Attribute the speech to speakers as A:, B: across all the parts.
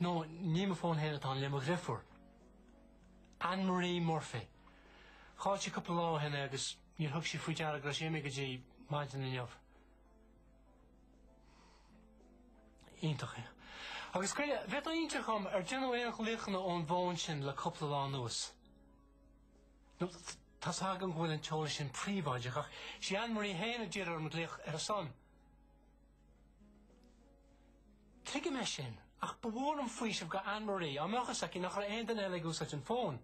A: No, ní mo fón féin atá ann, le mo dhreifiúr, Anne Marie Murphy. Chaill sí cúpla lá ó shin é agus níor thug sí faoi deara go raibh sé imithe go dtí maidin inniu. Iontach. Agus goile, an bhféadfá inseacht dhom ar déanadh aon ghlaochanna ón bhfón sin le cúpla lá anuas. No, tá's agam go bhfuil an t-eolas sin príobháideach ach 'sí Anne Marie féin a d'iarr orm glaoch ar a son. Tuigim é sin, ach ba mhór an faoiseamh do Anne Marie, dá mbeadh a fhios aici nach raibh aon duine eile ag úsáid an fón.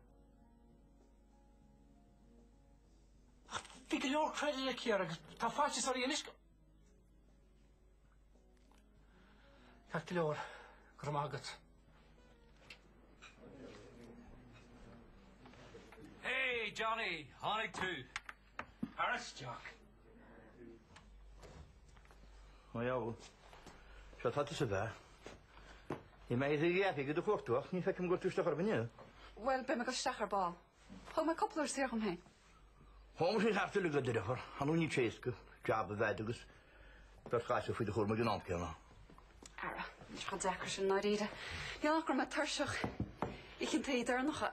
A: Ach bhí go leor credit aici air agus tá faitíos uirthi anois. Ceart go leor, go raibh maith agat.
B: Hey Johnny, tháinig tú.
C: Tar isteach. Go deo. Seo tá tusa bhea. Bhí mé ag iarraidh go do chuartú ach ní fheicim go raibh tú isteach orm inniu. Bhuel, beidh mé ag goil
D: isteach ar ball. Thóg mé cúpla uair saor dhom féin. Thóg
C: sí thart uilig a d'oirfear, ar ndóigh níl sé éasca, jab a bheith a'd agus beirt ghasúr faoi do chúram ag an am céanna. Ara,
D: níl sé chomh deacair sin, i ndáiríre. Níl ach go raibh mé tuirseach ag an tae deireanach a.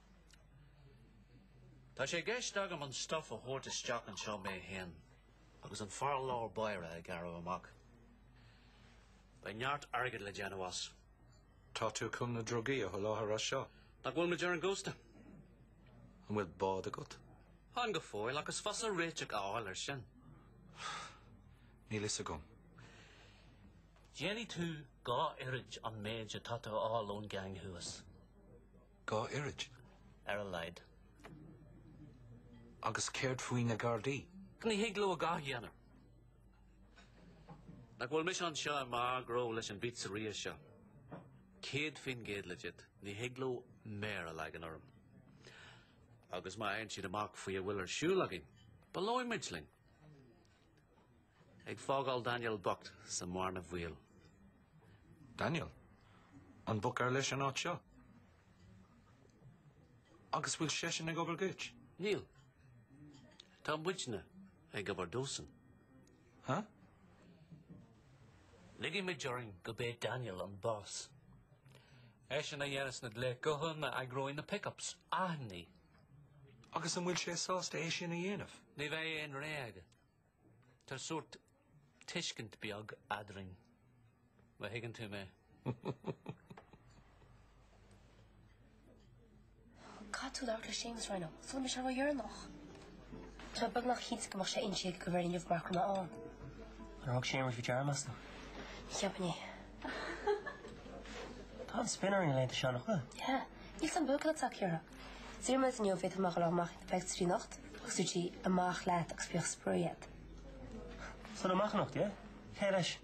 B: Tá sé i gceist agam an stuff a thabhairt isteach anseo mé féin agus an fear lár báire a ghearradh amach. Beidh neart airgid le déanamh as. Tá tú
E: chun na drugaí a sholáthar as seo? Nach bhfuil muid ar
B: an gcósta?
E: An bhfuil bád agat? Chan go
B: fóill ach is fusa réiteach a fháil air
E: sin. Níl fhios agam.
B: Déanfaidh tú dhá oiread an méid atá tú a fháil ón gceann thuas.
E: Dhá oiread? Ar a laghad. Agus céard faoi na Gardaí? Ní thig leo a dhath
B: a dhéanamh. Nach bhfuil mise anseo i mbun gnó leis an bpizzeria seo. Céad faoin gcéad legit, ní thig leo méar a leagan orm. Agus má fhaigheann siad amach faoi a bhfuil ar siúl againn, baileoidh muid linn. Ag fágáil Daniel bocht sa mbearna
E: bhaoil. Daniel, An boc ar leis an áit seo? Agus bhfuil seisean ag obair dhuit? Níl.
B: Tá muidne ag obair dósan. Ha? Ligimid orainn gurb é Daniel an boss. Eisean a dhéanfas na glaonna gutháin, a eagróidh na pick-ups, aithní
E: Agus an bhfuil sé sásta é sin a dhéanamh? Ní bheidh aon
B: rogha aige. Tá sórt tuiscint beag eadrainn, má thuigeann tú mé.
F: Caithfidh tú labhairt le Séamus Ryan, sula mbeidh sé ródheireanach. Tá mé beagnach cinnte go mbeadh sé inti ag go bhfuil inniu mar chrann ann. Ar thug Séamus faoi deara, meas tú? Ní cheapfainn é. Tá an spin orainn na laethanta seo, nach bhfuil? Yeah. Níl san buaicphoill ach ceithre. D'iarr mé inniu an bhféadfadh mé dul amach ag na pictiúirí anocht agus dúirt sí amach leat agus bíodh spraoi
G: agat. So amach anocht, yeah? Cé leis?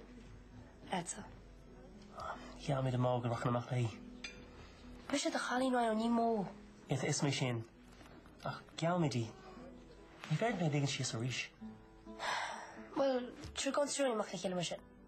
G: Leatsa. Gheall mé do Mo go rachainn amach léi.
F: Mise do chailín Ryan ó ní Mo. Yeah, tá a fhios agam é
G: sin. Ach gheall mé di. Ní fhéadfaidh mé í a ligean síos arís.
F: Bhuel, tar gabhfaidh an triúr againn amach le chéile mar sin.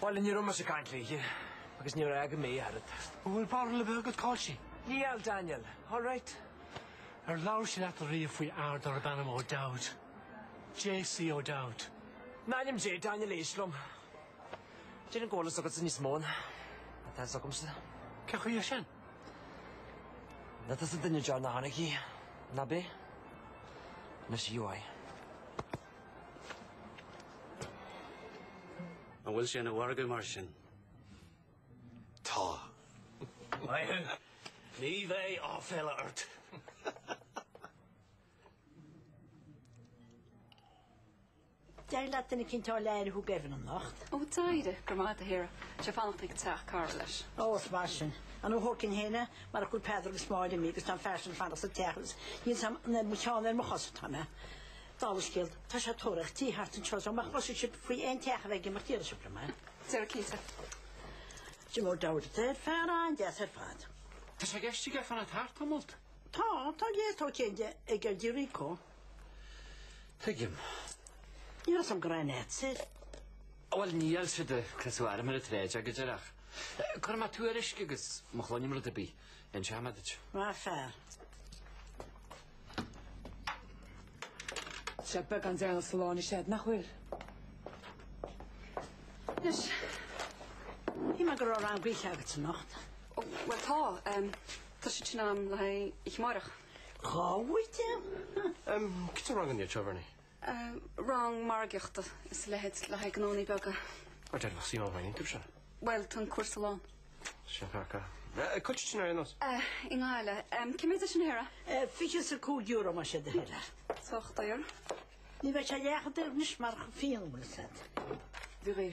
A: Bhuel, ní raibh mise
G: ag caint léi, agus ní fhaca mé í ach oiread. An bhfuil barúil ar bith
A: agat, cá'il sí? Níl,
G: Daniel. All right? Ar labhair
A: sí leat ariamh faoi fhear darb ainm O'Dowd? JC O'Dowd. In ainm
G: Dé, Daniel, éist liom. Déarfainn go bhfuil a fhios agatsa níos mó ná atá fhios agamsa. Cad chuige sin? Nach tusa an duine deireanach a chonaic í, ná bí. Anois a Juai.
B: An bhfuil sé ina mhargadh mar
E: sin? Tá. Maíonn.
G: Ní bheidh áiféala ort.
H: D'éirigh leat duine eicínt a fháil le aire a thabhairt d'Evan anocht? Ó d'éirigh, go
D: raibh maith agat do Shíora. Tá sé ag fanacht ag teach Carla leis. Ó is maith sin.
H: An bhfuil thóicín fhéin a? Mar go bhfuil Peadar agus Máire imithe agus tá an fear sin ag fanacht sa teach agus níl a fhios agam an ar mo cheann nó ar mo chos atá mé. Dála an scéil, tá sé ag tóraíocht tí thart anseo so má chloiseann sibh faoi aon teach a bheith ag imeacht déarfaidh sibh liom é. Sarah Keating. Jim O'Dowd, ó fear an-deas ar fad. Tá sé ag iarraidh
B: fanacht thart tamall. Tá, tá gé
H: atá céille ag ar Dia Rico. Tuigim. Ní raibh a fhios agam go raibh an áit soir. Bhuel,
B: níl sé de, cleas a mhairimar a tréid aige, déarfainn. Cuirfidh mé tuairisc agus má chluinim rud ar bith. inseoidh mé duit. Maith an
I: fear. Tá sé beagán deireanach sa lá, ní séard nach bhfuil? Anois,
H: shíl mé go raibh rang oíche agat anocht. Ó, bhuel
D: tá. Tá siad sin ann le haghaidh oíche amárach. Dhá
H: oíche? Cad é
G: rang an Dia Treoirfhear Ní?
D: rang margaíochta is a leithéid le haghaidh gnónnaí beaga. Go deimhneach sí
G: ná bhaineann tú seo. Bhuel, tá an cúrsa
D: lán. Sin
G: thaca. Cá bhfuil sé sin ar aon nós? I
D: nGaillimh. Cé mhéad é sin Hera?
H: €25 más é do thoil é. Sách daor.
D: Ní bheidh sé
H: leath chomh daor anois mar go fíonn bhfuil said. Bhí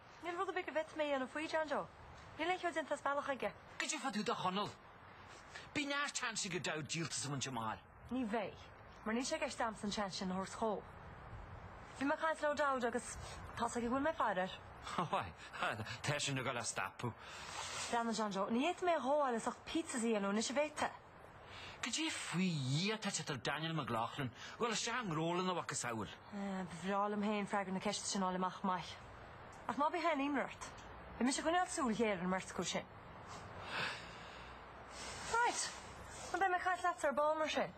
B: Níl rud ar bith go bhféadfadh
F: mé a dhéanamh faoi, John Joe. Níl aon cheo déanta as bealach aige. Goidé fá dtaobh de
B: Chonall? Beidh neart seans ag O'Dowd díoltas a bhaint amach. Ní bheidh,
F: mar níl sé i gceist agamsa an seans sin a thabhairt dhó. Bhí mé ag caint le O'Dowd agus tá's aige go bhfuil mé ag faire air.
B: Bhuel, tá sin ag dul á stopadh.
F: Déanann, John Joe. Ní fhéadfaidh mé é a ghabháil as ucht pizzas a dhéanamh anois, an bhféadfaidh? Goidé
J: faoi Dhia atá ag teacht ar Daniel McLaughlin a dhul isteach i ngnó lena mhacasamhail. Ba bhreá liom
K: féin freagra na ceiste sin a fháil amach chomh maith. Ach ná bíodh aon imní ort, beidh mise ag coinneáil súil ghéar ar an mbeirt acu sin. Right! Beidh mé ag caint leat ar ball mar sin.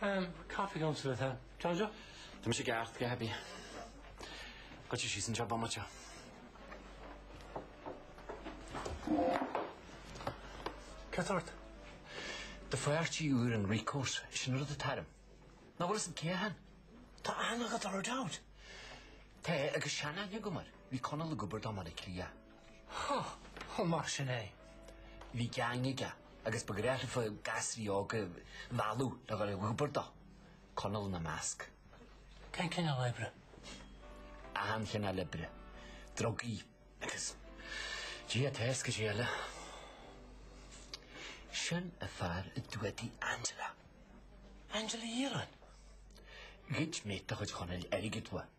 D: Ehm, caithfidh
A: liom sa bheith dearfach. Tá mise ag eacht
J: go heibí. Go dtí síos anseo bomaite.
A: Cad ort?
J: The phairtí úr an Ricos, sin an rud a tairm. Ná bhfuil 'san cé athain? Tá
A: ana-ghalar ag Dowd. Té
J: agus sean-aithne agam air. Bhí Conall ag obair dá mba le Cliath.
A: Ó, mar sin é.
J: Bhí gang aige agus ba ghnách leofa gasraí óga a mhealladh le dhul ag obair dó, Conall ina measc. Cén cineál
A: oibre?
J: Achan chineál oibre. Drugaí agus ag Dia atá a fhios goidé eile. Sin an fear a d'fhuadaigh Angela. Angela
A: Uí Dhireáin?
J: Ghoid mate de chuid Chonaill airgead uaidh.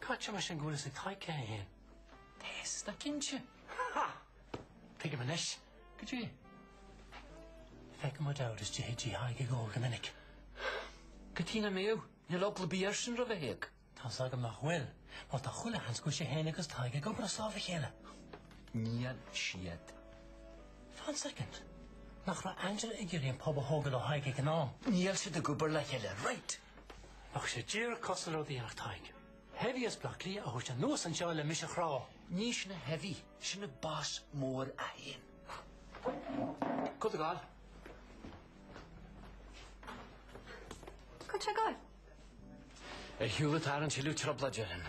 A: Caithfidh mar sin go bhfuil fhios ag Tadhg cé hé féin. Tá's
J: go cinnte.
A: Ha! Tuigim anois. Goidé? Feicim O'Dowd istigh Tigh Thaidhg ag ól go minic. Cad
J: chuige nach mbeadh? Níl eagla ar bith air sin roimh Thadhg. Tá's agam nach
A: bhfuil, mar tá chuile sheans go bhfuil sé féin agus Tadhg ag obair as lámh a chéile.
J: Níl
A: siad. Fan soicind. Nach raibh Angela ag iarraidh an pub a thógáil ó Thadhg ag an am? Níl siad ag obair le
J: chéile. Right! Ach
A: sé díreach cosúil le rud a dhéanfadh Tadhg. Heavy as Bleá Cliath a thabhairt anuas anseo le mise a chrá. Ní shin an
J: heavy, sin an boss mór é féin. Cá bhfuil tú ag gabháil?
D: Cá bhfuil sé ag
J: gabháil? Ar shiúl ag tarraingt tuilleadh trioblóid orainn.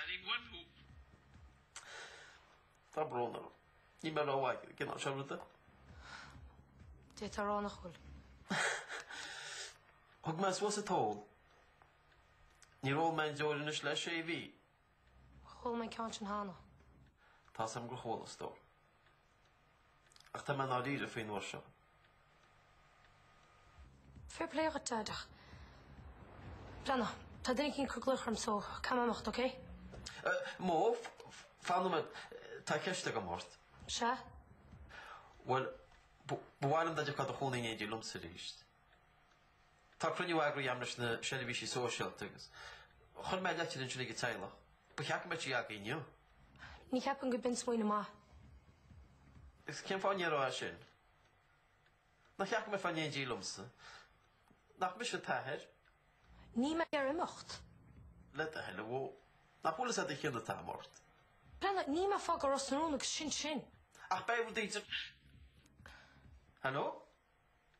L: Ellie Woodhope. Tá brón orm. Níl mé rómhaith ag an gcineál seo ruda.
K: D'fhéadfá a rá nach bhfuil.
L: Thug mé suas an t-ól. Níor ól mé aon deoir anois le sé mhí. Chuala
K: mé an ceann sin cheana. Tá's agam gur
L: chuala, a stór. Ach tá mé i ndáiríre faoi an uair
K: seo. Fair play agat Deaid. Brenna, tá duine eicínt ag cur glaoch orm so caithfidh mé imeacht ok?
L: Bhó, fan nóiméad, tá ceist agam ort. Sea? Bhuel, ba mhaith liom dá dtiocfá do chónaí in éindí liomsa arís. Tá cruinniú eagraithe agam leis na seirbhísí sóisialta agus chuir mé leitir ansin ag an teaghlach. Ba cheart go mbeadh sí acu inniu. Ní cheapaim
K: go b'in smaoineamh maith.
L: Agus cén fáth a ndéarfá sin? Nár cheart go mbeifeá in éindí liomsa? Nach mise t'athair? Níl mé
K: ag iarraidh imeacht. Le do thoil,
L: ó, nach bhfuil a fhios agat an cion atá agam ort? Brenna, níl
K: mé ag fágáil Ros na Rún agus sin sin. Ach beidh rud
L: idir. Haló?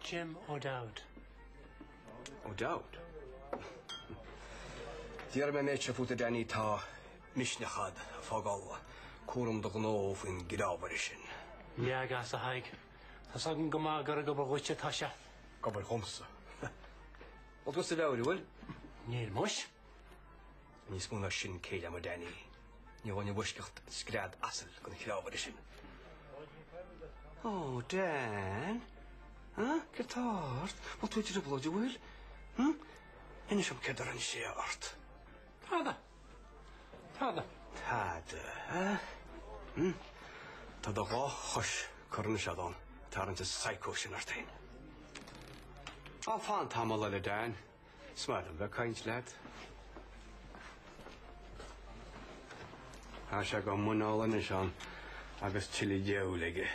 A: Jim
M: O'Dowd. O'Dowd? Déarfaidh mé an méid seo fút a Danny, tá misneach agat ag fágáil cúram
A: do
M: ghnó
A: faoin
M: gcneámhaire sin. Leag as a Thaidhg.
A: Tá's agam go maith gur ag obair dhuit atá sé. Ag obair dhomsa.
M: Bhfuil tú as do mheabhair, an bhfuil? Níl muis. Níos mó ná sin, céille agam a Danny, ní ghabhfainn i bhfoisceacht scread asail den chneámhaire sin. Oh, Dan! Huh? Céard tá ort? Bhfuil tú i dtrioblóid, an bhfuil? Huh? Inis dom céard a rinne sé ort. Tada! Tada! Tada, huh? Huh? Tá do dhá chois corna seadán, ag tarraingt an psycho sin ort féin. Á, fan tamall eile, Dan. Is maith liom bheith ag caint leat. Tá sé go muineál anois ann agus tuilleadh diabhail aige.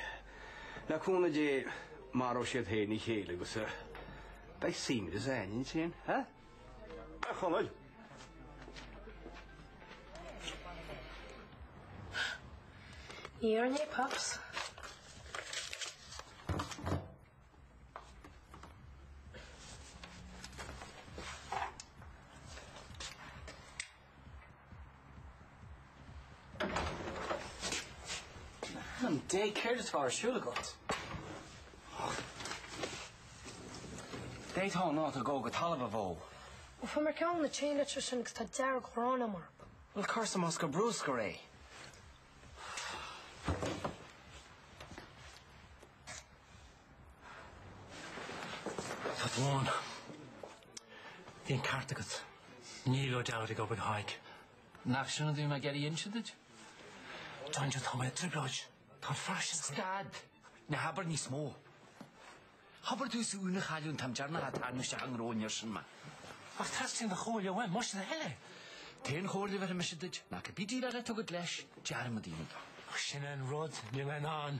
M: Le cúnamh Dé, maróidh siad féin a chéile agus a beidh suaimhneas againne ansin, ha? A
F: Chonaill! Iarr an é, Pops.
J: In ainm Dé céard atá ar siúl agat? D'fhéadfá an áit a dhó go talamh bhó. Bhuel, fuair
F: mé ceann de na chain letters sin agus tá dearg-ghráin agam orthu. Bhuel, cuir
J: sa mbosca bruscair é.
A: Tá tú ann. Bhí an ceart agat. Níl O'Dowd ag obair do Thadhg. Nach sin an
J: rud a bhí mé ag iarraidh a inse duit? John
A: Joe, tá mé i dtrioblóid. Tá an faisean chun. Stad!
J: Ná habair níos mó. Hobair domhsa Úna a chailliúint an t-am deireanach a tarraingíodh isteach i ngnó an fhir sin mé. Ach
A: teastaíonn do chomhairle uaim, más é do thoil é. An t-aon chomhairle
J: a bheir mise duit, ná cibé déileáil atá agat leis, dearmad é. Ach sin an
A: rud, níl mé in ann.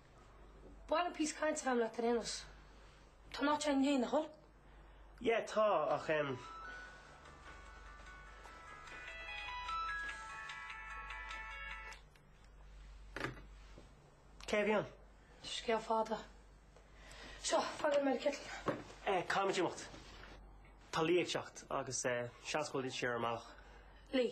F: Baineann píosa cainte agam le Taranos. Tá an áit seo i ndiaidh na hoileán. Yeah
G: tá ach em. Cé a bhí ann? Scéal
F: fada. Seo, faghail mé le citeal. Eh, caithfidh muid imeacht.
G: Tá Lee ag teacht agus eh, seans go bhfuil siad ar a mbealach. Lee.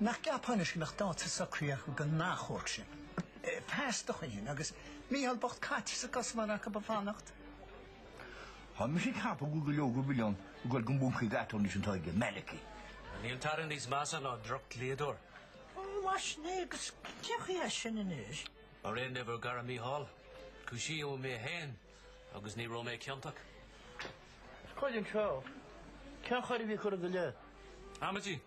C: Nach gceapfá anois go mbeadh dáta socraithe acu don achomharc sin pas do Choilín agus Micheál bocht caite sa gcosamar acu ba fanacht?
N: Tá mise ag ceapadh go bhfuil go leor den mhilleán ag dul don mhuncaí d'aturnae sin atá aige, Malachy. Níl
B: tada níos measa ná drochdhlíodóir. Bhaist
C: mé agus cé chaoi é sin anois? Ar an ábhar,
B: fearacht Micheál. Cúisíodh mé féin. Agus ní raibh mé
C: ciontach. Chuir an treo. Cén choir a bhí curtha i do leith?
B: Amaidí.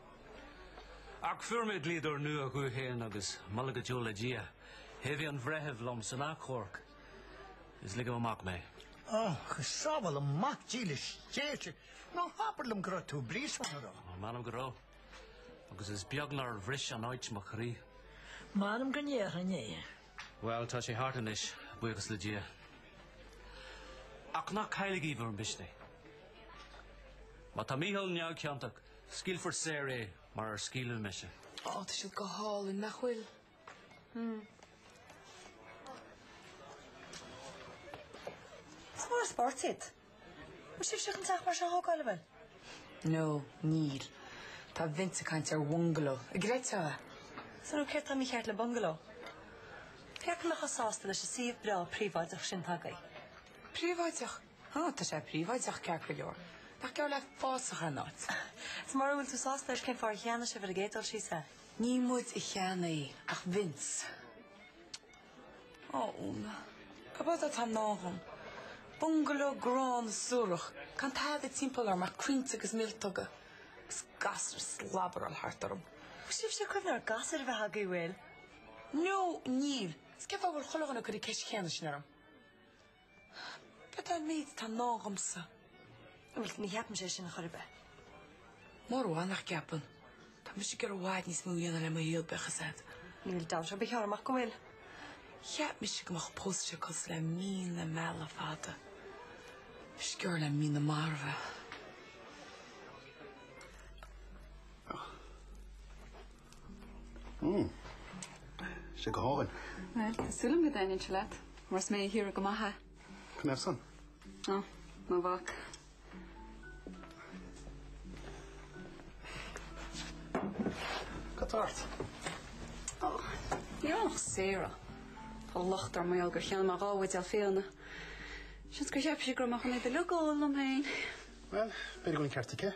B: Ach fuair mé dlíodóir nua domh féin agus moladh go deo le Dia, thaobhaigh an breitheamh liom san achomharc is ligeadh amach mé. Ó,
C: go sábhála Mac dílis Dé sinn, ná habair liom go raibh tú i bpríosún, an raibh. M'anam go raibh.
B: Agus is beag nár bhris an áit mo chroí. M'anam
C: go ndéarfainn é. Bhuel, tá
B: sé thart anois, buíochas le Dia. Ach ná cailligí bhur misneach. Má tá Mícheál neamhchiontach, scaoilfear saor é mar a scaoileadh mise. Ó, tá siad
I: go hálainn, nach bhfuil?
K: Hmm. Is mór an spórt iad. Bhfuil sibhse chun teach mar seo a thógáil, an bhfuil?
I: No, níl. Tá Vince ag caint ar bhungaló an gcreidfeá. Is ar
K: ndóigh céard atá mícheart le bungaló? Pé acu nach raibh sásta leis an suíomh breá príobháideach sin atá agaibh.
I: Príobháideach? Ó, tá sé príobháideach, ceart go leor. Nach geall le fásach an áit? Is mura bhfuil tú
F: sásta leis cén fáth ar cheannaigh sibh ar an gcéad dul síos é? Ní muid a
I: cheannaigh ach Vince. Ó, Úna, ab eod atá i ndán dhom. Bungaló gránna suarach, gan tada timpeall orm ach coillte agus míoltóga, agus gasúir ag slabaráil thart orm. Bhfuil sibhse ag
F: cuimhneamh ar gasúr a bheith agaibh, an bhfuil? No,
I: níl. Is cén fáth a bhfuil chuile dhuine ag cur an cheist chéanna sin orm? B'fhearr an méid atá ná agamsa.
F: Bhuel, ní cheapaimse sin, chor ar
I: bith. Mura bhfuil, nach gceapann. Tá mise ag iarraidh i bhfad níos mó a dhéanamh le mo shaol bíodh a fhios agat. Níl dabht ar
F: bith orm ach go bhfuil.
I: Cheap mise go mbeadh pósta cosúil le mí na meala fada. Is giorra le mí na marbh é. Ach.
O: Mmm. Sé go hálainn. Bhuel, tá súil agam
D: go dtaitníonn sé leat, mar is mé a shaothraigh go maith é. Cad ina thaobh san?
O: Ó,
D: ná bac.
O: Cad tá ort?
D: Ó, níl ann ach Sarah. Tá locht orm i ngeall gur cheannaigh mé dhá bhuidéal fíona. Seans gur cheap sí go raibh mé chun iad uilig a ól liom féin. Bhuel, b'fhéidir
O: go bhfuil an ceart aici.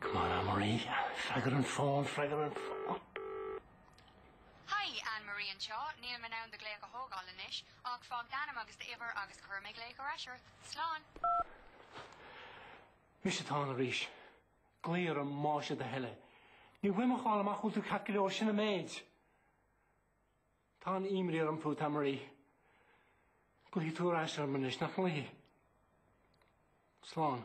A: Come on Anne-Marie, freagair an fón, freagair
P: an fón! Hi, Anne-Marie anseo, níl mé in ann do glaoch a thógáil anois, ach fág d'ainm agus d'uimhir agus cuirfidh mé glaoch ar ais ort. Slán!
A: Mise atá ann arís. Glaoigh orm más é do thoil é. Níl uaim ach a fháil amach an bhfuil tú ceart go leor sin an méid. Tá an-imní orm fút Anne-Marie. Glaofaidh tú ar ais orm anois nach nglaofaidh. Slán.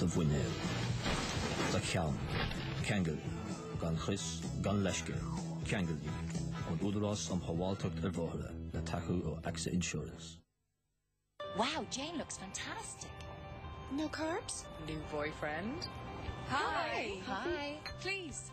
Q: do mhuinéal, do cheann, ceangail í, gan chrios, gan leithscéal, ceangail í, ón Údarás um Shábháilteacht ar Bhóithre, le tacú ó AXA
R: Insurance. Wow, Jane looks fantastic. No
I: carbs? New boyfriend? Hi.
R: Hi.
I: Please.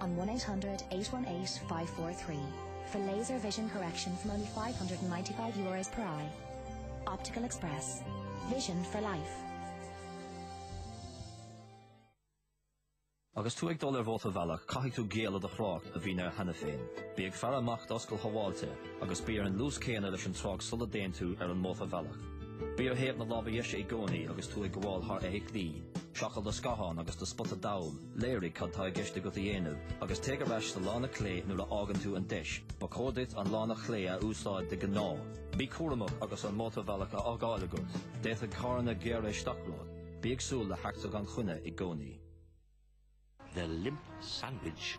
S: on 1800 818 543 for laser vision correction from only €595 per eye. Optical Express. Vision for life.
Q: Agus tú ag dul ar mhótarbhealach caithfidh tú géilleadh do thrácht a bhíonn air cheana féin. Bí ag faire amach d'oscailt shábháilte agus bí ar an luas céanna leis an trácht sula dtéann tú ar an mótarbhealach. Bí ar thaobh na láimhe deise i gcónaí agus tú ag gabháil thar fheithiclí. Seiceáil do scáthán agus do spota dall. Léirigh cad atá i gceist agat a dhéanamh agus téigh ar ais sa lána clé nuair a fhaigheann tú an deis. Ba chóir duit an lána chlé a úsáid de ghnáth. Bí cúramach agus an mótarbhealach á fhágáil agat, d'fhéadfadh carranna gearradh isteach romhat. Bí ag súil le heachtra gan choinne i gcónaí.
E: The Limp Sandwich.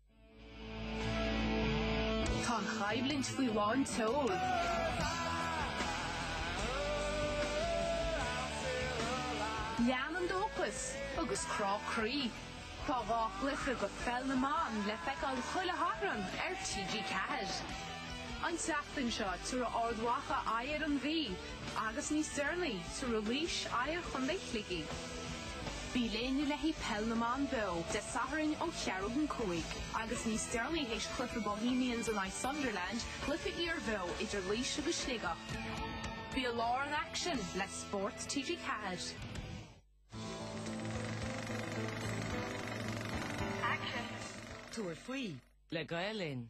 I: Tá an choimhlint faoi lán tseoil. Lean an dóchas agus crá croí. Tá dhá chluiche de Pheil na mBan le feiceáil chuile Shatharn ar TG4. An tseachtain seo tabharfaidh Ard Mhacha aghaidh ar an Mhí agus níos deireanaí tabharfaidh Laois aghaidh ar Chontae Shligigh. Bí linn le haghaidh Peil na mBan Beo, Dé Sathairn ó cheathrú don cúig, agus níos deireanaí théis cluiche Bohemians in aghaidh Sunderland, cluiche iarbheo idir Laois agus Sligeach. Bí i lár an aicsin le Spórt TG4.
R: Aicsean. Tabhair
T: faoi. Le Gael Linn.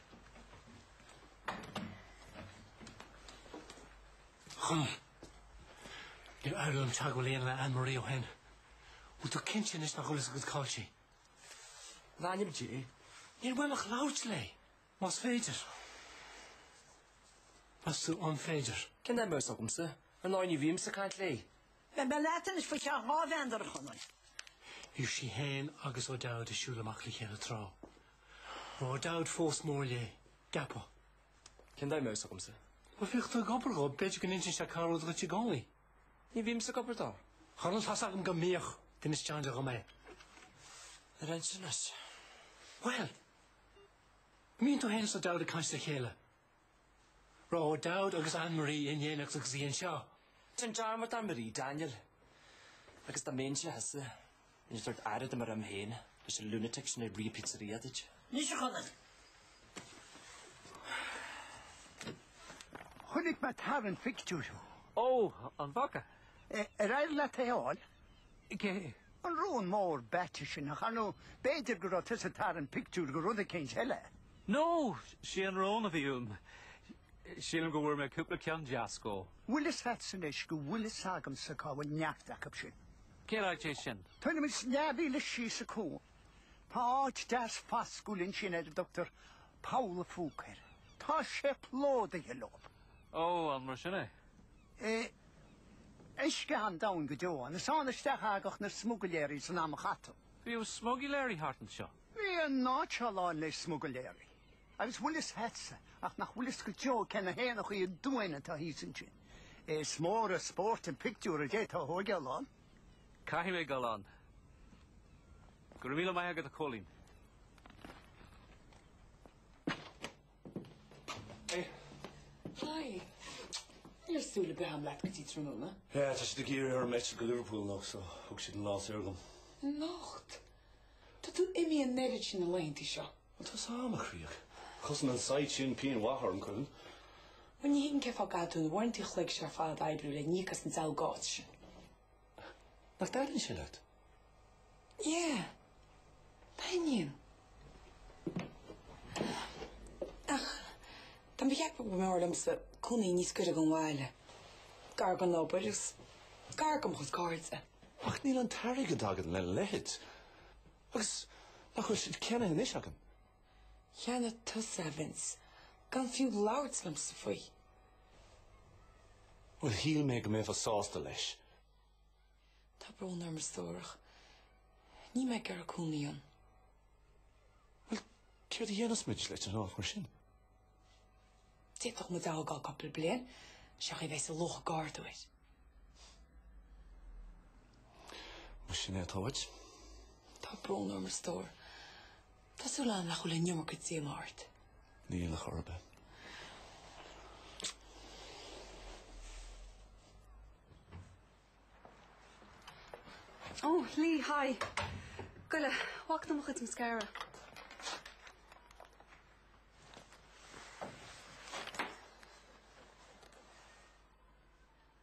A: Níor éirigh liom teagmháil a dhéanamh le Anne Marie ó shin. Bhfuil tú cinnte anois nach bhfuil fhios agat cáil sí?
G: In ainm Dé. Níor mhaith
A: liom labhairt léi, más féidir. Meas tú an féidir? Cén chaoi a mbeadh fhios
G: agamsa? Ar ndóigh ní bhímse ag caint léi.
C: Beidh mé leat anois
A: faoi cheann dhá mheandar, a Chonaill. Bhí sí fhéin agus O'Dowd ag siúl amach le chéile tráth. Raibh O'Dowd fós mór léi, an gceapfá? Cén
G: chaoi a mbeadh fhios agamsa? Bhuel, bhíodh tú ag obair
A: dhó, b'fhéidir go n-insíonn sé corr-rud duit i gcónaí. Ní bhímse
G: ag obair dó. Come on, tá fhios agam
A: go mbíodh. D'inis John Joe dhom é.
G: Ar inis anois? Bhuel,
A: an mbíonn tú fhéin is O'Dowd ag caint le chéile. Raibh O'Dowd agus Anne Marie in éineacht agus í anseo. Déan dearmad ar
G: Anne Marie, Daniel, agus dá mba mise thusa, bheinn ag tabhairt aire dom ar am féin, leis an lunatic sin ag rith an pizzeria duit. Anois, a
N: Chonaill! Chonaic mé ag tarraingt pictiúir thú. Ó,
G: an bhfaca? Ar éirigh
N: leat é a fháil?
G: Cé? An
N: rón mór beathaithe sin, ach ar ndóigh b'fhéidir go raibh tusa ag tarraingt pictiúr de rud eicínt eile?
U: No, sé an rón a bhí uaim. Sílim go bhfuair mé cúpla ceann deas dhó. Bhfuil fhios a't
N: anois go bhfuil fhios agamsa cá bhfuil neart acub sin? Cén áit é
U: sin? Tuairim is
N: leathmhíle síos an cuan. Tá áit deas fascúil ansin ar a dtugtar Poll a' Phúca air. Tá sé plódaithe leob. Ó, an mar
U: sin é?
N: Uisce an-domhain go deo ann. Is ann isteach a thagadh na smuigléirí san am a caitheadh. Bhíodh
U: smuigléirí thart anseo. Bhí an áit seo
N: lán le smuigléirí. Agus bhfuil fhios agatsa, ach nach bhfuil fhios go deo cé na héanachaí aduain atá thíos ansin. Is mór an spórt an pictiúr a d'fhéadfá a thóigeáil ann. Caithfidh
U: mé dul ann. Go raibh míle maith agat, a Chóilín.
I: Hi. Ní raibh súil ar bith agam leat go dtí tráthnóna. Yeah, tá siad
Q: ag iarraidh orm eitilt go
I: Liverpool
Q: anocht, so thug
I: siad
Q: an lá saor agam. Anocht.
H: Tá tú imithe an oiread sin na laethanta seo. Well, tá sé ag dul
G: i gcrích. Chosain an site sin pingin mhaith orainn, cuimhnigh. Well, ní
H: thuigim cén fáth go gcaithfidh tú na huaireanta an chloig seo ar fad a oibriú le n-íoc as an diabhal d'áit sin.
G: Nach dtaitníonn sé leat?
H: Yeah. Taitníonn. Ach tá mé ag ceapadh go mb'fhearr liomsa cónaí níos gaire don bhaile, gar don obair agus gar do mo chuid cairde. Ach níl
G: an t-airgead againn lena leithéid. Agus nach bhfuil sé ceannaithe anois againn?
H: Cheannaigh tusa é, a Vince, gan fiú labhairt liomsa faoi.
G: Bhuel shíl mé go mbeifeá sásta leis.
H: Tá brón orm a stór, ach níl mé ag iarraidh cónaí
G: ann. Bhuel, céard a dhéanfas muid leis an áit mar sin?
H: D'fhéadfadh muid é a fhágáil cúpla bliain, seans go mbeidh sa luach ardú.
G: Más in é atá uait. Tá
H: brón orm a stór. Tá súil agam nach bhfuil an iomarca díoma ort. Níl ar chor
G: ar
D: bith. Ó, Lee, hi. Goile, coinnigh mo chuid mascara.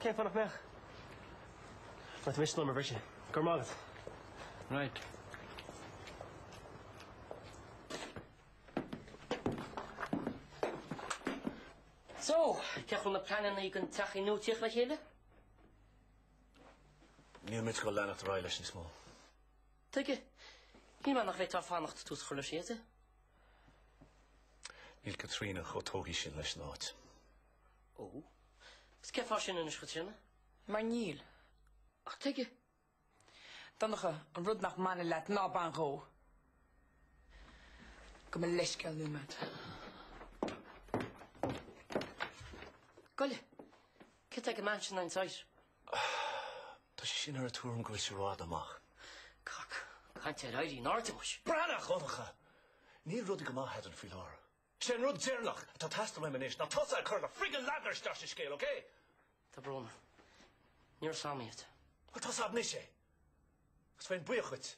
O: Cén fáth nach mbeadh? Má tá mise in ann i mbriste. Go raibh maith agat.
F: Right. So, cén chaoi a bhfuil na pleananna don teach nua ag tíocht le
G: chéile? Níl muid ag goil ag leanacht ar aghaidh leis níos mó.
F: Tuige, shíl mé nach bhféadfá fanacht le tús a chur leis an
G: tógáil. Níl Caitríona chomh tógtha sin leis an áit.
F: Ó. Agus cén fáth sin anois, a Chaitríona? Mar
H: níl. Ach tuige? Donncha, an rud nach mbaineann leat, ná bain dhó! Gabh mo leithscéal, Nóiméad.
F: Goille, céard atá aici in aghaidh an
G: site? Tá sí sin den tuairim go bhfuil sé rófhada amach. Cac,
F: caint ar éirí in airde muis. Breathnaigh, a
G: Dhonncha! Níl rudaí go maith eadrainn faoi láthair. Sé an rud deireanach atá ag teastail uaim anois ná tusa ag cur do friggin ladar isteach sa scéal, ok? Tá
F: brón orm. Ní raibh a fhios agam é. Bhuel tá a fhios a'd anois
G: é. Agus bheinn buíoch díot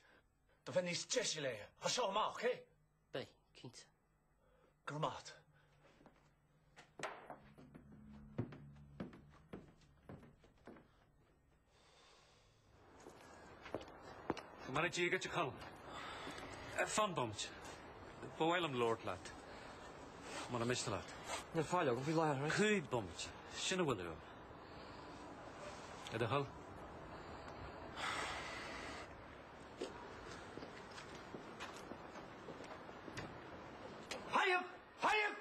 G: dá mbeifeá níos deise léi as seo amach, ok? Beidh,
F: cinnte. Go
G: raibh maith agat.
U: Mar a d'fhiaga de Colm, Fan bomaite, ba mhaith liom labhairt leat, muna miste leat. Níl faill agam faoi
G: láthair. Cúig
U: bhomaite, sin a bhfuil uaim. Le do
C: thoil? Haigh! Haigh!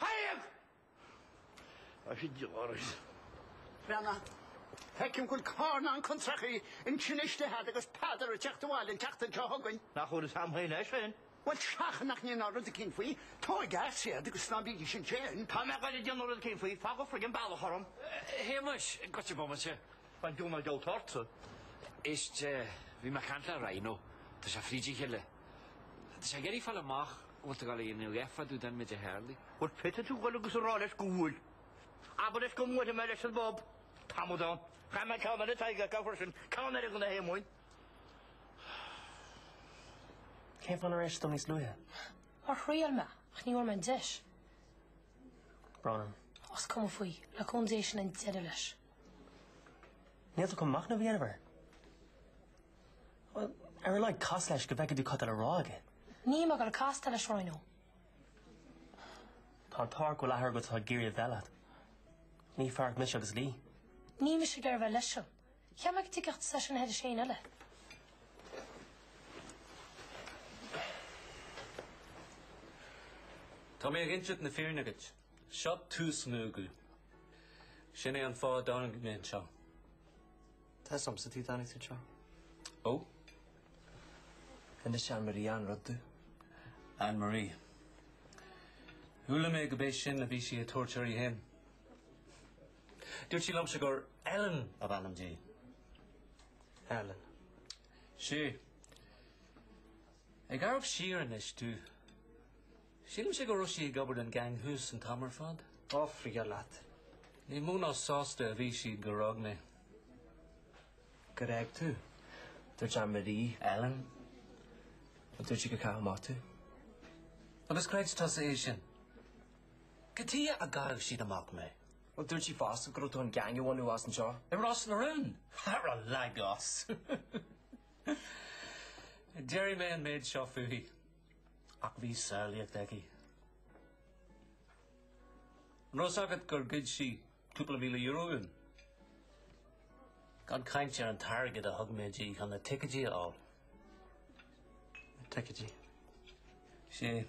C: Haigh! Tá sé deoraithe.
N: Brenna, Feicim go bhfuil carn ann chun tréachaí an tine istigh a'd agus Peadar ag teacht abhaile an tseachtain seo chugainn. Nach bhfuil is amhlaidh leis
C: féin? Bhuel, seachain nach
N: ndéanfá rud éicín faoi, tóig a'd iad agus ná bígí sin féin. Tá mé ag iarraidh déanamh
C: rud éicín faoi, fág an friggin bealach orm.
G: Shéamais, goitse bomaite. Tá an giúnán geallta
C: ortsa. Éist,
G: bhí mé ag caint le Rhino, tá sé fríd a chéile. Tá sé ag iarraidh fáil amach an bhfuil tú ag éirí nó fá dtaobh den mhéid a tharlaigh. Bhuel, féadfaidh tú
C: dhul agus a rá leis go bhfuil. Abair leis go mbuailfidh mé leis sa bpub tamall dom. Chaith mé ceann eile taighde acu freisin. Ceann eile ag na hÉamoinn.
K: Cén fáth nár inis tú níos luaithe? Mar thriail
F: mé, ach ní bhfuair mé an
K: deis. Brón orm. Is cuma
F: faoi, le cúnamh Dé sin an deireadh leis.
K: Níl tú chun machnamh a dhéanamh air? Bhuel, ar a laghad cas leis go bhfeicfidh tú cad tá le rá aige. Níl mé ag
F: goil ag castáil leis
K: Rhino. Tá an t-ádh ort go bhfuil athair agat atá ag iarraidh a bheith leat. Ní fearacht mise agus Lee. Níl mise ag iarraidh
F: bheith leis seo. Cheap mé go dtuigfeása sin thar éinne
U: eile. Tá mé ag insint na fírinne agat. Seo tús nua domh. Sin é an fáth a dtáinig mé anseo.
G: Tá a fhios a'msa tuige a dtáinig tú anseo.
U: Ó! D'inis
G: Anne Marie achan rud domh. Anne
B: Marie. Chuala mé gurb é sin a bhí sí ag tabhairt uirthi féin. Dúirt sí liomsa gur Ellen ab ainm
G: di.
B: Ellen. Sea. Ag amharc siar anois domh. Sílimse go raibh sí ag obair don gang thuas an t-am ar fad. Ó frig
G: leat. Ní mó
B: ná sásta a bhí siad gur fhág mé. Gur fhág
G: tú? Dúirt Anne Marie, Ellen, dúirt sí gur caitheadh amach tú.
B: Agus chreid tusa é sin? Cad tuige a gcaithfeadh siad amach mé? Bhuel, dúirt sí
G: fosta go raibh tú chun gang a bhunú as an seo. I Ros na Rún?
B: Ara lig as! Déarfaidh mé an méid seo fúithi. Ach bhí samhlaíocht aici. An raibh a fhios agat gur ghoid sí cúpla míle euro uainn? Gan caint ar an t-airgead a thug mé di chun na ticéidí a fháil.
G: Na ticéidí?
B: Sea.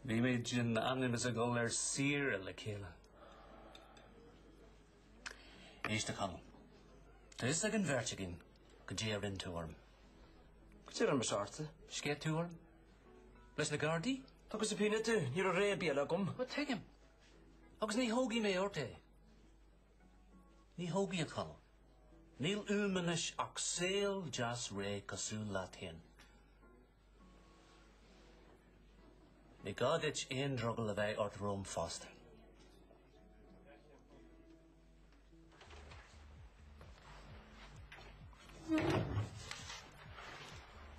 B: Bhí muid in ainm is ag dul ar saoire le chéile. Éist, a Chonaill. Tá fhios ag an bheirt againn cad é a rinn tú orm. Cad
G: é a rinn mise ort. Sceith tú orm?
B: Leis na Gardaí? Tugadh subpoena
G: dom. Ní raibh rogha ar bith eile agam. Bhuel,
B: tuigim. Agus ní thógfaidh mé ort é. Ní thógfaidh, a Chonaill. Níl uaim anois ach saol deas réidh cosúil leat féin. Ní gá duit aon drogall a bheith ort romham
G: fosta.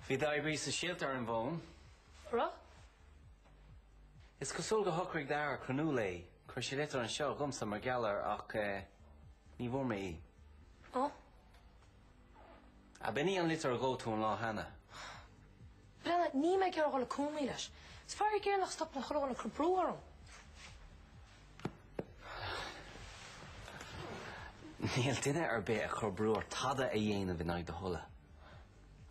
G: Bhí d'oibrí sóisialta ar an bhfón. Raibh? Is cosúil gur shocraigh d'athair cruinniú léi, chuir sé litir anseo dhomsa mar gheall air ach eh, ní bhfuair mé í. Ó? Ab in í an litir a dhóigh tú an lá
F: cheana? Berni, níl mé ag iarraidh a dhul i gcónaí leis. Is faraor géar nach stopann chuile dhuine ag cur brú orm.
G: Níl duine ar bith ag cur brú ort tada a dhéanamh in aghaidh do thola.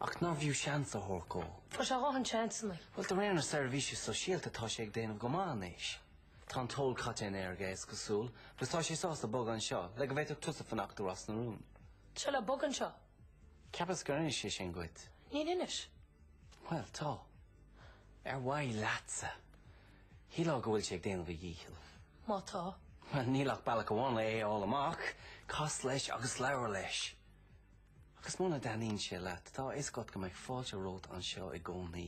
G: Ach nár bhfiú seans a thabhairt dhó? Fuair sé a dhóthain
F: seansanna. Bhuel, de réir na seirbhísí
G: sóisialta tá sé ag déanamh go maith anois. Tá an t-ól caite in aer aige, is cosúil, agus tá sé sásta bogadh anseo le go bhféadfadh tusa fanacht i Ros na Rún. Tá sé le bogadh
F: anseo? Cheapas gur
G: inis sé sin dhuit. Níor inis.
F: Bhuel, tá.
G: Ar mhaithe leatsa. Shílfeá go bhfuil sé ag déanamh a dhíchill. Má
F: tá. Bhuel, níl ach
G: bealach amháin le é a fháil amach, cas leis agus labhair leis. Agus muna dtaitníonn sé leat, tá a fhios agat go mbeidh fáilte romhat anseo i gcónaí.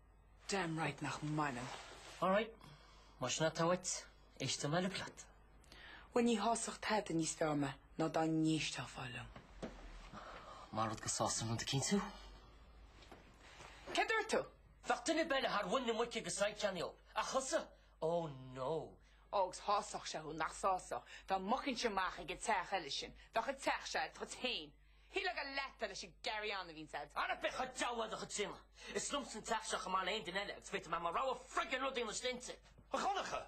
G: Damn
H: right nach mbaineann.
G: Alright, más in atá uait, éistfidh mé uilig leat. Bhuel ní
H: shásódh tada níos fearr mé ná dá n-éisteofá liom.
G: Mar rud go sásaim liom do cinntiú.
H: Céard dúirt tú? Bheadh duine ar bith eile
G: ar mhuin na muice go said ceannaíodh, ach thusa, oh no. Ó agus shásódh
H: sé thú, nach sásódh, dá mbogfainnse amach ag an teach eile sin. Bheadh an teach seo duit féin. Shílfeá gur leat é leis an gcarry-on a bhíonns agat. Á ná bí chomh dall le
G: do chuid tríonna. Is liomsa an teach seo chomh maith le haon duine eile agus féadfaidh mé mo rogha friggin rud a dhéanamh istigh anseo. A Dhonncha!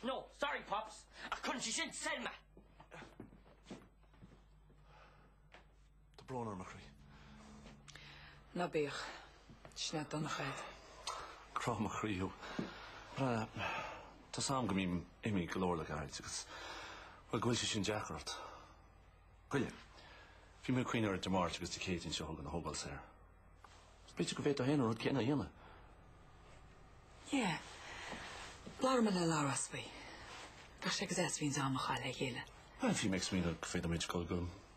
G: No, sorry Pops, ach cuireann sé sin soir mé.
U: Tá brón orm a
H: chroí. Ná bíodh. Sin é Donnchadh. Grá
U: mo chroí thú. Tá a fhios agam go mbím imithe go leor le gairid agus, bhuel, go bhfuil sé sin deacair ort. Gabh i leith. Bhí mé ag cuimhneamh ar Dé Máirt agus Dé Céadaoin seo chugainn a thógáil saor. Is b'fhéidir go bhféadfá féin an rud céanna a dhéanamh.
H: Yeah. Labhróidh mé le Labhrás faoi. Bheadh sé go deas a bheith in ann am a chaitheamh le chéile. Bhuel, bhí mé ag smaoineamh
U: go bhféadfadh muid dul go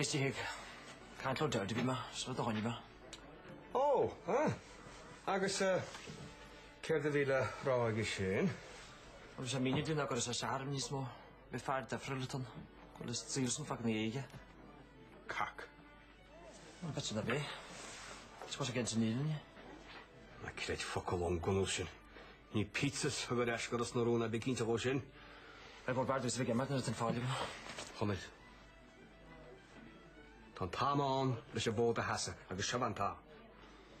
J: Istigh ag caint le O'Dowd a bhí mé, sula dtáinig mé. Ó,
O: ah. Agus eh, céard a bhí le rá aige sin? Bhuel, bhí sé ag
J: míniú dúinn ná gur fhios ais airm níos mó. Bhí fear deifre le tonn. Bhuel, is dílsean fá gnaoi aige. Cac. An bite na bith. Is cos a gceinnte níl in.
O: Ná creid focal ón gcunús sin. Ní pizzas a thug ar ais go Ros na Rún é, bí cinnte dhó sin. B'fhearr
J: domsa bheith ag imeacht nuair atá an fhaill agam. Chonaill.
O: Tá an t-am ann leis an bhfód a sheasamh agus seo é an t-am.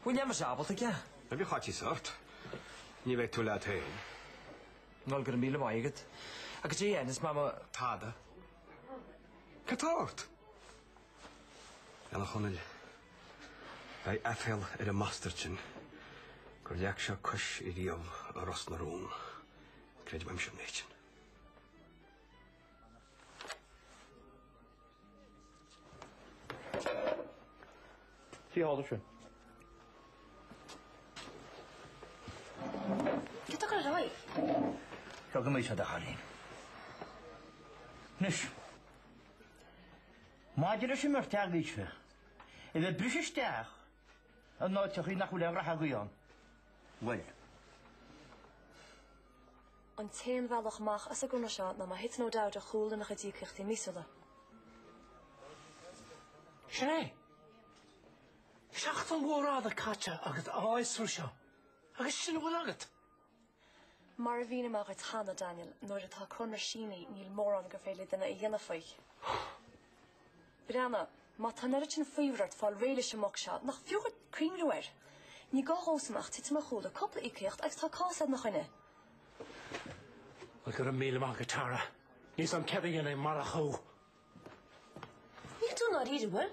O: Bhfuil
J: mise ábalta aige? Ná bíodh faitíos
O: ort. Ní bheidh tú leat féin.
J: Noel, Go raibh míle maith agat. Agus JN, is maith mo. Tada.
O: Cad tá ort? Ella Chonaill, Beidh aiféal ar an mbastard sin gur leag sé cois i riamh i Ros na Rún, creid uaimse an méid
C: sin.
F: Sea, tharla sé. Cad tá ar aghaidh? Seo
C: go maith, a Dhaidh Chailín. Anois, Maidir leis an mbeirt agaibhse a bheith ag briseadh isteach in áiteachaí nach bhfuil aon ghraithe agaibh ann, bhuel,
K: An t-aon bhealach amach as an gconradh seo ná má thiteann O'Dowd ar chúl lena chuid íocaíochtaí
A: míosúla. Sin é. Seachtain mhór fhada caite agat ag fiosrú seo, agus sin a bhfuil agat.
K: Mar a mhínigh mé dhuit cheana, Daniel, nuair atá conradh sínithe níl mórán gur féidir le duine a dhéanamh faoi. Breathnaigh, má tá an oiread sin faobhair ort fáil réidh leis an mboc seo, nach fiú dhuit cuimhniú air? Ní gá dhósan ach titim ar chúl le cúpla íocaíocht agus tá cás agat ina choinne.
A: Bhuel, go raibh míle maith agat, Tara. Níl a fhios agam céard a dhéanfainn marach thú.
F: Níl tú i ndáiríre, an bhfuil?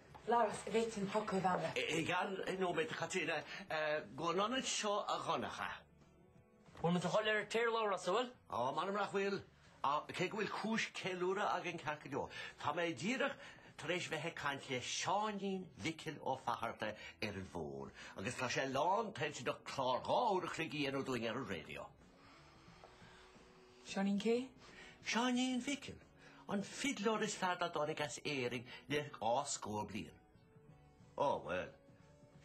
H: Labhrás, an bhféadfainn focal a
E: bheith agam. I gceann nóiméad, Chaitríona, gabh aniar anseo a Dhonncha. Bhfuil
J: muid ag dul ar tear, Labhrás, an bhfuil? Ó, m'anam nach bhfuil.
E: Cé go bhfuil cúis ceiliúradh againn ceart go leor, tá mé díreach tar éis bheith ag caint le Seáinín Mhicil Ó Fatharta ar an bhfón agus tá sé lántoilteanach clár dhá uair a chloig a dhéanamh dúinn ar an raidió.
H: Seáinín cé?
E: Seáinín Mhicil, an fidleoir is fearr dá dtáinig as Éirinn le dhá scór bliain. Ó, bhuel,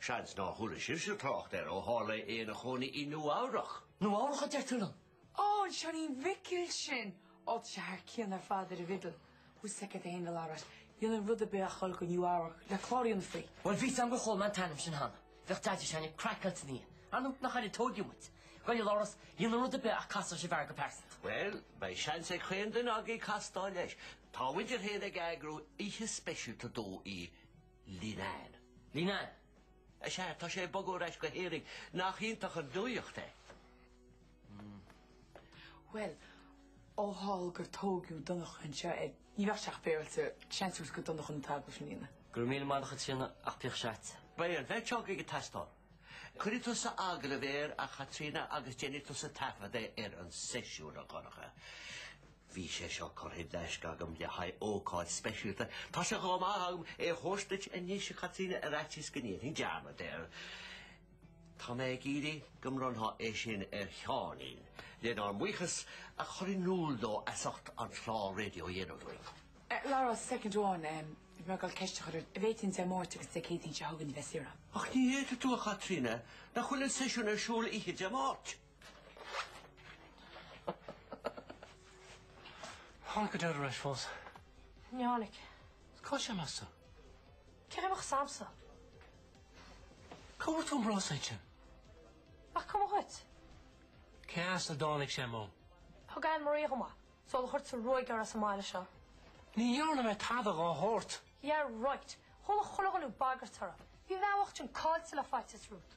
E: seans nár chuala sibhse trácht air ó tharla é ina chónaí i Nua-Eabhrach. Nua-Eabhrach a deir tú
J: liom? Ó, an Seáinín
H: Mhicil sin! Ó, tá sé thar cionn ar fad ar an bhfidil. Tá a fhios agat féin, a Labhráis. Dhéanfainn rud ar bith a dhul go nua-Eabhrac le clár a dhéanamh faoi. Bhuel, bhí a fhios agam gur chuala mé an
J: t-ainm sin cheana. Bhíodh Deaide s'againne craiceáilte ina dhiaidh. Ar ndú, nach air a tógadh muid. Gabh i leith, a Labhráis, dhéanfainn rud ar bith ach castáil leis an bhfear go pearsanta. Bhuel, beidh
E: seans ag chaon duine againn castáil leis. Tá muide féin ag eagrú oíche speisialta dó i
J: Leenane. Leenane? Sea,
E: tá sé ag bogadh ar ais go hÉirinn. Nach iontach an nuaíocht é?
H: Bhuel, ó tharla gur tógadh Donncha anseo, ní bheadh sé ach féaráilte seans a thabhairt do Dhonncha an t-agallamh a dhéanamh. Go raibh míle maith agat, a Chaitríona
J: ach píoc seite. Beidh an bheirt agaibh
E: ag teastáil. Cuirfidh tusa agallamh air, a Chaitríona, agus déanfaidh tusa taifeadadh ar an seisiún, a Dhonncha. Bhí sé seo curtha i dtaisce agam le haghaidh ócáid speisialta. Tá sé chomh maith agam é a thabhairt duit anois, a Chaitríona, ar fhaitíos go ndéanfainn dearmad air. Tá mé ag iarraidh go mbronnfá é sin ar Sheáinín, lenár mbuíochas, a chur in iúl dó as ucht an chláir raidió a dhéanamh dúinn. A Labhráis,
H: soicind amháin, bhí mé ag gabhail ceist a chur an bhféadfainn Dé Máirt agus Dé Céadaoin seo chugainn a bheith saoire. Ach ní fhéadfaidh tú,
E: a Chaitríona, nach bhfuil an seisiún ar siúl oíche Dé
A: Máirt? Ar tháinig do Dheaide ar ais fós. Ní tháinig.
K: Cá bhfuil
A: sé, meas tú? Cén chaoi a mbeadh a
K: fhios agamsa?
A: Cá bhfuair tú an bróiste sin? Nach
K: cuma dhuit. Cé
A: as a dtáinig sé, Mo? Thug Anne Marie
K: dhom é. Sular chuir tusa an ruaig uirthi as an mbaile seo. Ní
A: dhearna mé tada dhá shórt. Yeah
K: right. Chuala chuile dhuine thú ag bagairt uirthi. Bhí an bhean bhocht sin caillte le faitíos romhat.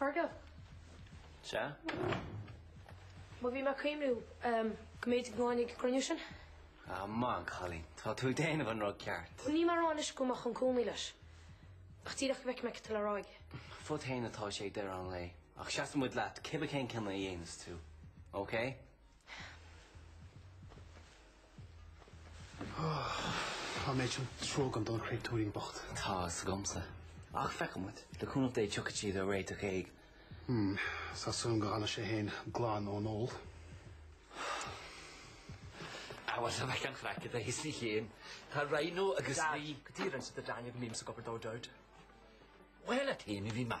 K: Fergal.
G: Sea?
K: Má bhí mé ag cuimhniú go mb'fhéidir go ngabhfainn ag an gcruinniú sin. Maith
G: an cailín. Tá tú ag déanamh an rud ceart. Níl mé ag rá anois go
K: mbeadh an cónaí leis. Ach díreach go bhfeicfidh mé céard atá le rá aige. Fút féin atá
G: sé ag deireadh an lae. Ach seasfaidh muid leat cibé cén cinneadh a dhéanfas tú. Ócé?
L: Tá an méid sin trua agam don chréatúirín bocht. Tá fhios agamsa.
G: Ach feicfidh muid. Le cúnamh Dé tiocfaidh siad ar réiteach éigin. Hm.
L: Tá súil agam go bhfana sé fhéin glan ón
P: ól. Á bhuel, tá mé gan chraic i do shaghas mé fhéin. Tá Rhino agus Rí. Dad, go dtí a rinne siad a dtaitneamh go mbímse ag obair dó, Dod. Bhuel, a Thaoiseach, bhí mé.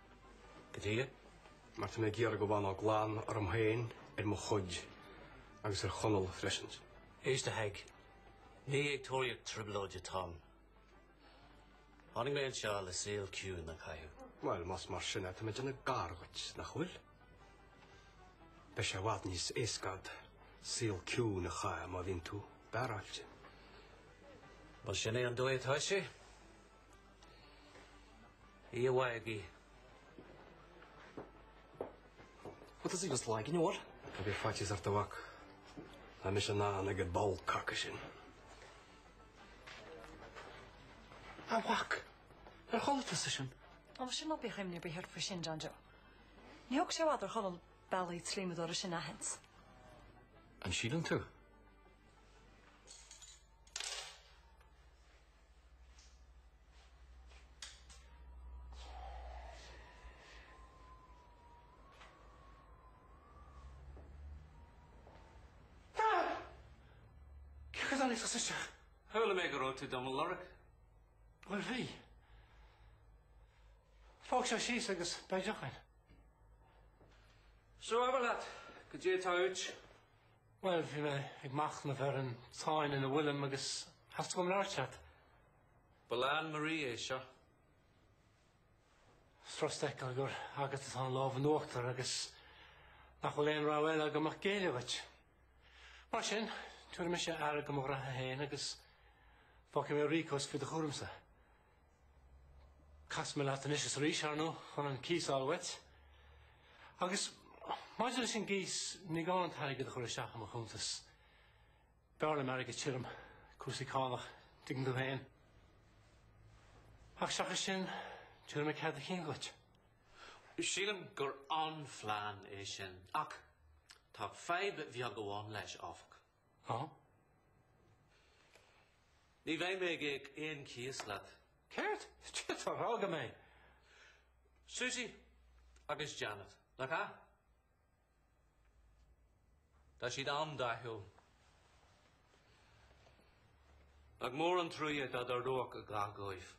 B: Goidé? Mar
O: tá mé ag iarraidh go bhfanfá glan orm féin, ar mo chuid, agus ar Chonall freisin. Éist a Pheig,
B: ní ag tóraíocht trioblóide atáim. Tháinig mé anseo le saol ciúin a chaitheamh. Bhuel, más mar
O: sin é, tá mé ag déanamh gar dhuit, nach bhfuil? Beidh sé i bhfad níos éasca agat saol ciúin a chaitheamh má bhíonn tú beáráilte.
B: Bhuel, sin é an dóigh atá sé.
P: Iomhaigí. What does he just like in your what? Ná bíodh faitíos ort a
O: mhac. Tá mise in ann ag an ball caca sin.
A: A mhac! Ar chuala tusa sin? Ó, sin ná
K: bíodh imní ar bith ort faoi sin, John Joe. Ní thógfaidh sé i bhfad ar Chóil bealaí an tslíomadóra sin a aithint. An
B: síleann tú?
A: Cén chaoi a dtáinig tusa isteach? Chuala mé go
B: raibh tú do mo lorg.
A: Bhuel, bhí. Ó, suigh síos agus beidh deoch againn.
B: Seo abair leat, goidé atá uait.
A: Bhuel, bhí mé ag machnamh ar an tsáinn ina bhfuilim agus theastaigh uaim labhairt leat. Ba le
B: Anne Marie é seo.
A: Is furast a fheiceáil gur agat atá an lámh in uachtar agus nach bhfuil aon rogha eile agam ach géilleadh duit. Mar sin, tabharfaidh mise aire do mo ghraithe féin agus fágfaidh mé Rico's faoi do chúramsa. Casfaidh mé leat anois is arís, ar ndóigh, chun an cíos a fháil uait. Agus maidir leis an gcíos, ní gá an t-airgead a chur isteach i mo chuntas. B'fhearr liom airgead tirim, cúrsaí cánach, tuigeann tú féin. Ach seachas sin, tabharfaidh mé cead do chinn dhuit. Sílim
B: gur an-phlean é sin. Ach tá fadhb bheag amháin leis, áfach. Huh? Ní bheidh mé ag íoc aon chíos leat.
A: Céard? Ciotar, fhága mé!
B: Susie agus Janet, nach ea? Tá siad an-dathúil. Nach mór an truaigh é dá dtarlódh a dhath dhóibh.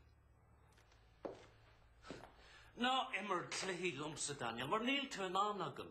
B: Ná imir cluichí liomsa, Daniel, mar níl tú in ann agam.